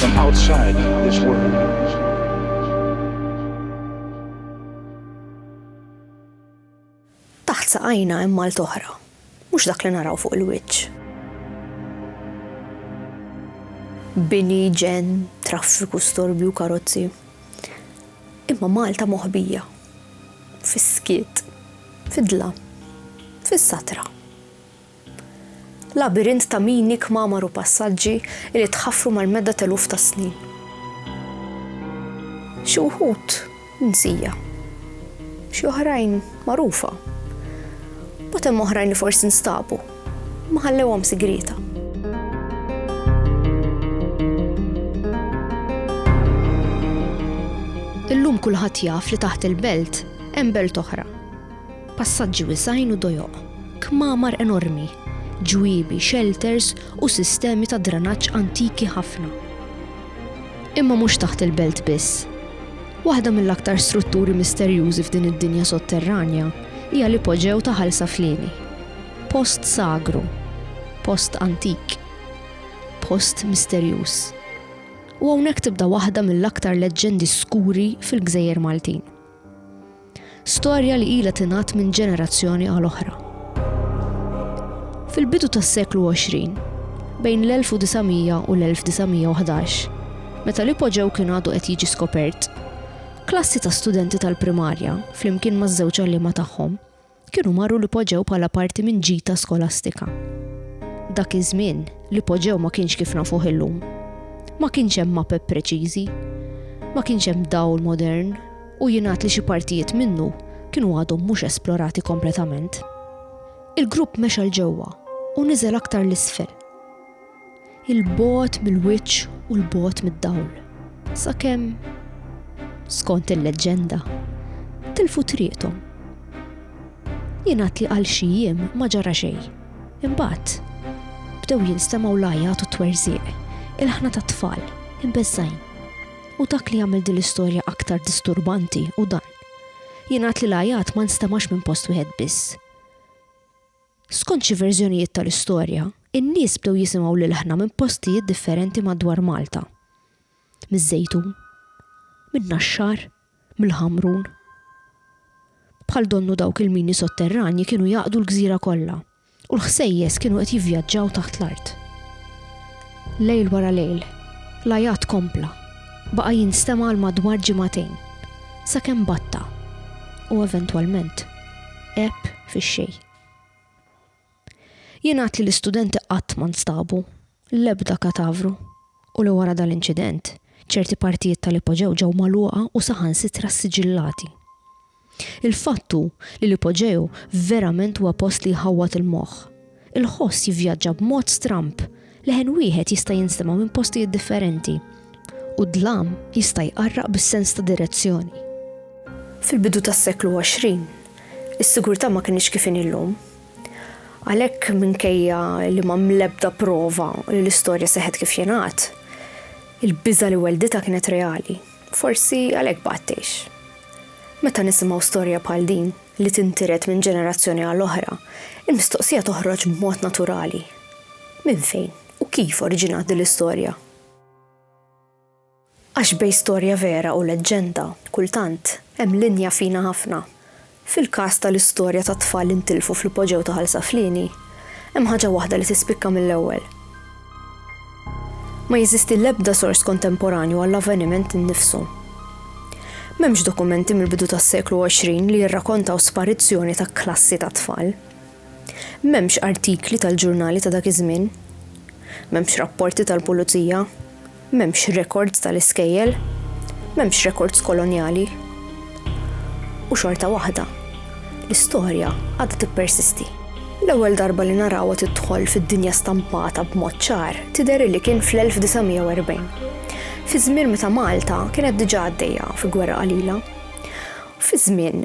From outside this world. Taħt saqajna hemm malt oħra, mhux dak li naraw fuq il-wiċċ. Bini, ġen, traffiku, storbju, karozzi. Imma Malta moħbija. Fis-skiet, fidla, fis-satra. Labirint ta' mini, kmamar u passaġġi li tħaffru mal-medda t'eluf ta' snin. Xi wħud mnsija. Xi oħrajn magħrufa. Mbagħad hemm oħrajn li forsi nstabu, imma ħallewhom sigrieta. Illum kulħadd jaf li taħt il-belt hemm belt oħra. Passaġġi wiesgħin u dojoq, kmamar enormi, ġwiebi, xelters u sistemi ta' dranaġġ antiki ħafna. Imma mhux taħt il-belt biss. Waħda mill-aktar strutturi misterjużi f'din id-dinja sotterranja hija l-ipoġew ta' Ħal Saflieni. Post sagru. Post antik. Post misterjuż. U hawnhekk tibda waħda mill-aktar leġġendi skuri fil-gżejjer Maltin. Storja li ilha tingħadd minn ġenerazzjoni għal oħra. Fil-bidu tas-seklu 20, bejn l-1900 u l-1911, meta l-ipoġew kien għadu qed jiġi skopert, klassi ta' studenti tal-primarja, flimkien maż-żewġ għalliema tagħhom, kienu marru l-ipoġew bħala parti minn ġita skolastika. Dak iż-żmien, l-ipoġew ma kienx kif nafuh illum. Ma kienx hemm mapep preċiżi, ma kienx hemm dawl modern u jingħad li xi partijiet minnu kienu għadhom mhux esplorati kompletament. Il-grupp mexa 'l ġewwa u niżel aktar 'l isfel. il-bogħod mill-wiċċ u l-bogħod mid-dawl. Sakemm, skont il-leġġenda, tilfu triqthom. Jingħad li għal xi jiem ma ġara xejn. Imbagħad bdew jinstemgħu l-għajat u t-twerżieq, il-ħna tat-tfal, imbeżżajn. U dak li jagħmel din l-istorja aktar disturbanti u dan. Jingħad li l-għajat ma nstemax minn post wieħed biss. Skont xi verżjonijiet tal-istorja, in-nies bdew jisimgħu l-ilħna minn postijiet differenti madwar Malta. Miż-Żejtun. Min-Naxxar. Mill-Ħamrun. Bħal donnu dawk il-mini sotterranji kienu jgħaqqdu l-gżira kollha, u l-ħsejjes kienu qed jivvjaġġaw taħt l-art. Lejl wara lejl, l-għajat kompla, baqa' jinstema' għal madwar ġimagħtejn, sakemm batta, u eventwalment għeb fix-xejn. Jingħad li l-istudenti qatt ma nstabu, l-ebda katavru, u li wara dal-inċident, ċerti partijiet tal-ipoġew ġew magħluqa u saħansitra ssiġillati. Il-fatt hu li l-ipoġew verament huwa post li jħawwad il-moħħ. Il-ħoss jivvjaġġa b'mod stramb Leħen wieħed jista' jinstema' minn postijiet differenti u d-dlam jista' jqarraq bis-sens ta' direzzjoni. Fil-bidu tas-seklu 20, is-sigurtà ma kinitx kif inhi llum. Għalhekk minkejja li m'hemm l-ebda prova li l-istorja seħħet kif jingħad, il-biża' li wellditha kienet reali. Forsi għalhekk baqgħet tgħix. Meta nisimgħu storja bħal din, li tintiret minn ġenerazzjoni għal oħra, il-mistoqsija toħroġ b'mod naturali, Minn fejn u kif oriġinat din l-istorja? Għax bejn storja vera u leġġenda, kultant, hemm linja fina ħafna. Fil-każ tal-istorja tat-tfal li ntilfu fl-ipoġew ta' Ħal Saflieni, hemm ħaġa waħda li tispikka mill-ewwel. Ma jeżisti l-ebda sors kontemporanju għall-avveniment innifsu. M'hemmx dokumenti mill-bidu tas-seklu 20 li jirrakontaw sparizzjoni ta' klassi ta' tfal. M'hemmx artikli tal-ġurnali ta' dak iż-żmien. M'hemmx rapporti tal-pulizija. M'hemmx rekords tal-iskejjel, m'hemmx rekords kolonjali. U xorta waħda, l-istorja għadha tippersisti. L-ewwel darba li narawha tidħol fid-dinja stampata b'mod ċar tidher illi kien fl-1940, fiż-żmien meta Malta kienet diġà għaddejja fi gwerra qalila. Fiż-żmien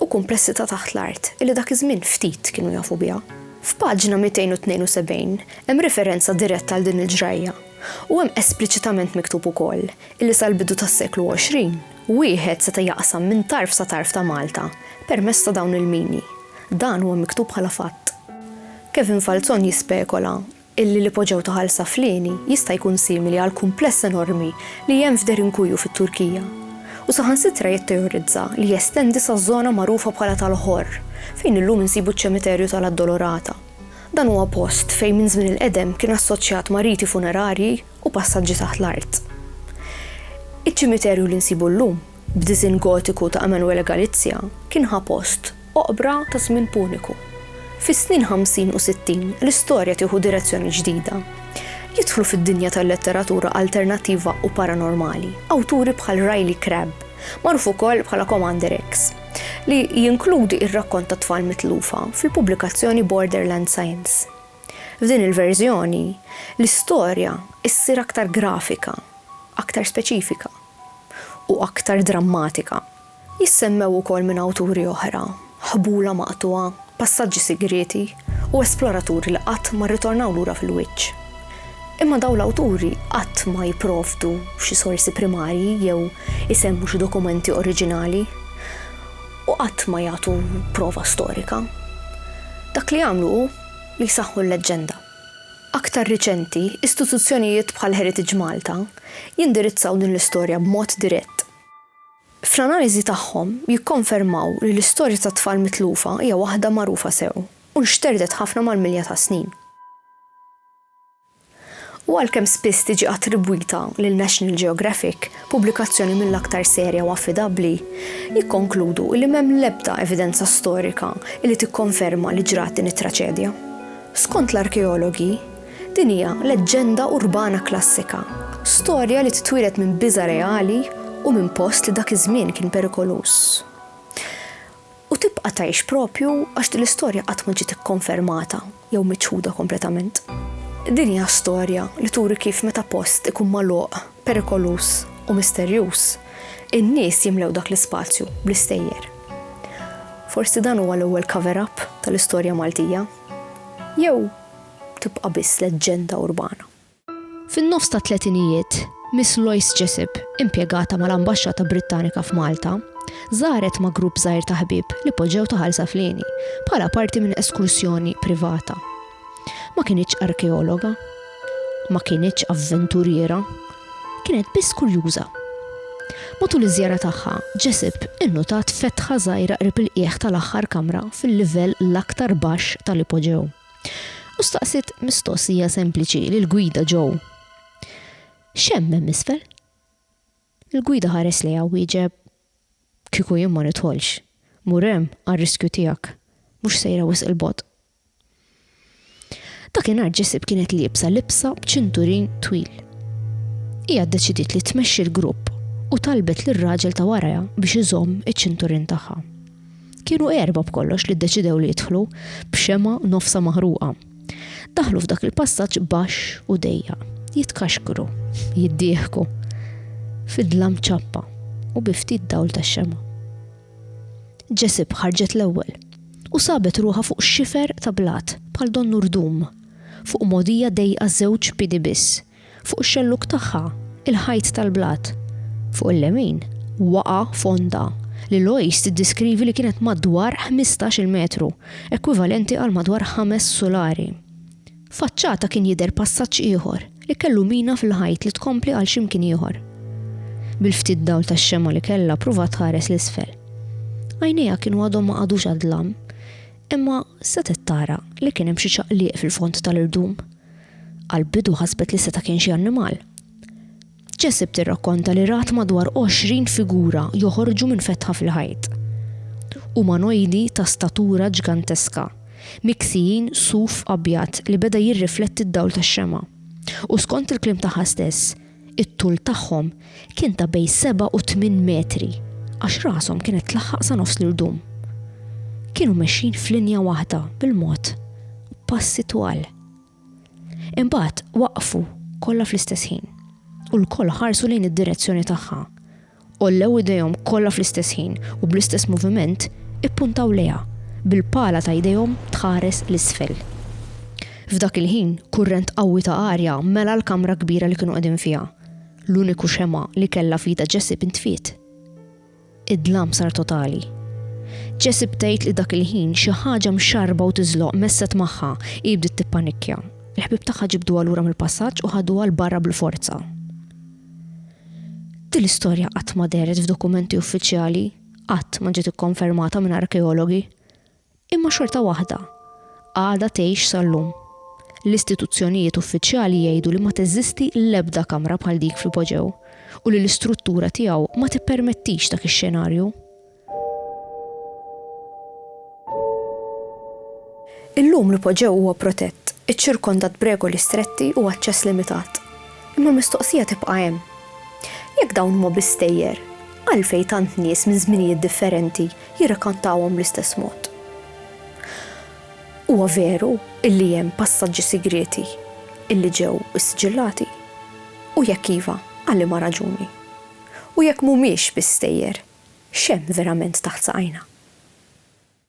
u kumpressità taħt l-art illi dak iż-żmien ftit kienu jafu biha. F'paġna 272 hemm referenza diretta għal din il-ġrajja u hemm espliċitament miktub ukoll illi sal-bidu tas-seklu 20 wieħed seta' jaqsam minn tarf sa tarf ta' Malta permezz ta' dawn il-mini. Dan huwa miktub bħala fatt. Kevin Falzon jispekola illi l-ipoġew ta' Ħal Saflieni jista' jkun simili għal kumpless enormi li hemm f'Derinkuyu fit-Turkija, u saħansitra jitteorizza li jestendi saż-żona magħrufa bħala tal-Ħorr, fejn illum insibu ċ-Ċemiterju ta' l-Addolorata. Dan huwa post fejn minn żmien il-qedem kien assoċjat ma' riti funerarji u passaġġi taħt l-art. Iċ-ċimiterju li nsibu llum b'diżinn Gotiku ta' Emanuele Galizia, kien ħa post oqbra ta' żmien Puniku. Fis-snin ħamsin u sittin, l-istorja tieħu direzzjoni ġdida. Jidħlu fid-dinja tal-letteratura alternattiva u paranormali awturi bħal Riley Crabb, magħruf ukoll bħala Commander X, li jinkludi r-rakkont tat-tfal mitlufa fil-pubblikazzjoni Borderland Science. F'din il-verżjoni, l-istorja ssir aktar grafika, aktar speċifika. u aktar drammatika. Jissemmew ukoll minn awturi oħra, ħbula maqtugħa, passaġġi sigrieti u esploraturi li qatt ma rritornaw lura fil-wiċċ. Imma dawn l-awturi qatt ma jipprovdu xi sorsi primarji jew isemmu xi dokumenti oriġinali u qatt ma jagħtu prova storika. Dak li jagħmlu hu li jsaħħu l-leġġenda. Aktar riċenti, istituzzjonijiet bħal Heritage Malta jindirizzaw din l-istorja b'mod dirett. Fl-analiżi tagħhom jikkonfermaw li l-istorja tat-tfal mitlufa hija waħda magħrufa sew u nxterdet ħafna mal-milja tas-snin. U għalkemm spiss tiġi attribwita lil National Geographic, pubblikazzjoni mill-aktar serja u affidabbli, jikkonkludu li m'hemm l-ebda evidenza storika li tikkonferma li ġrat din it-traċedja. Skont l-arkeologi, din hija leġġenda urbana klassika, storja li titwieled minn biża' reali u minn post li dak iż-żmien kien perikoluż. U tibqa' tgħix proprju għax din l-istorja qatt ma ġiet ikkonfermata jew miċħuda kompletament. Din hija storja li turi kif meta post ikun magħluq, perikoluż u misterjuż, in-nies jimlew dak l-ispazju bl-istejjer. Forsi dan huwa l-ewwel cover up tal-istorja Maltija? Jew tibqa' biss leġġenda urbana? Fin-nofs tat-tletinijiet, Miss Loyce Jessop, impjegata mal-Ambaxxata Brittanika f'Malta, żaret ma' grupp żgħir ta' ħbieb li poġġew ta' Ħal Saflieni bħala parti minn eskursjoni privata. Ma kinitx arkeologa, ma kinitx avventuriera, kienet biss kurjuża. Matul iż-żjara tagħha, Jessup innutat fetħa żgħira qrib il-qiegħ tal-aħħar kamra fil-livell l-aktar baxx tal-ipoġew, u staqsiet mistoqsija sempliċi lill-gwida Joe, X'hemm hemm isfel? Il-gwida ħares lejha u wieġeb, Kieku jien ma nidħolx, mur hemm għar-riskju tiegħek, mhux sejra wisq 'il bogħod. Dakinhar Jesib kienet liebsa libsa b'ċinturin twil. Hija ddeċidiet li tmexxi l-grupp u talbet lir-raġel ta' warajha biex iżomm iċ-ċinturin tagħha. Kienu erbgħa b'kollox li ddeċidew li jidħlu b'xemgħa nofsha maħruqa. Daħlu f'dak il-passaġġ baxx u dejjaq, jitkaxkru, jiddieħku, fid-dlam ċappa u bi ftit dawl tax-xemgħa. Jesib ħarġet l-ewwel u sabet ruħha fuq xifer ta' blat bħal donnu rdum, fuq mogħdija dejqa żewġ piedi biss, fuq ix-xellug tagħha il-ħajt tal-blat. Fuq il-lemin waqa' fonda li Lois tiddiskrivi li kienet madwar ħmistax-il metru, ekwivalenti għal madwar ħames sulari. Faċċata kien jidher passaġġ ieħor li kellu mina fil-ħajt li tkompli għal x'imkien ieħor. Bil-ftit dawl tax-xemgħa li kellha pruvat tħares 'l isfel. Għajnejha kienu għadhom ma qagħdux għad-dlam, imma setgħet tara li kien hemm xi ċaqliq fil-fond tal-irdum. Għall-bidu ħasbet li seta' kien xi annimal. Jessep tirrakkonta li rat madwar 20 figura joħorġu minn fetħa fil-ħajt. Umanojdi ta' statura ġganteska, miksijin suf abjad li beda jirrifletti d-dawl tax-xemgħa, u skont il-kliem tagħha stess, it-tul tagħhom kien ta' bejn seba' u tmien metri għax rashom kienet tlaħħaq sa nofs l-irdum. Kienu mexjin f'linja waħda bil-mod, b'passi twal. Imbagħad waqfu kollha fl-istess ħin, u lkoll ħarsu lejn id-direzzjoni tagħha. Għollew idejhom kollha fl-istess ħin u bl-istess moviment ippuntaw lejha, bil-pala ta' idejhom tħares 'l isfel. F'dak il-ħin kurrent qawwi ta' arja mela l-kamra kbira li kienu qegħdin fiha. L-uniku xemgħa li kellha f'idha Jessie bintfiet. Id-dlam sar totali. Jessie btgħid li dak il-ħin xi ħaġa mxarrba u tiżloq messet magħha, hi bdiet tippanikkja. Il-ħbieb tagħha ġibduha lura mill-passaġġ u ħaduha 'l barra bil-forza. Din l-istorja qatt ma dehret f'dokumenti uffiċjali, qatt ma ġiet ikkonfermata minn arkeologi. Imma xorta waħda, għadha tgħix sal-lum. L-istituzzjonijiet uffiċjali jgħidu li ma teżisti l-ebda kamra bħal dik fl-ipoġew u li l-istruttura tiegħu ma tippermettix dak ix-xenarju. Illum l-ipoġew huwa protett, iċċirkondat b'regoli stretti u aċċess limitat. Imma l-mistoqsija tibqa' hemm. Jekk dawn huma biss stejjer, għalfejn tant nies minn żminijiet differenti jirrakkontawhom bl-istess mod. Huwa veru illi hemm passaġġi sigrieti illi ġew issiġillati? U jekk iva, għal liema raġuni? U jekk mhumiex biss stejjer, x'hemm verament taħt saqajna?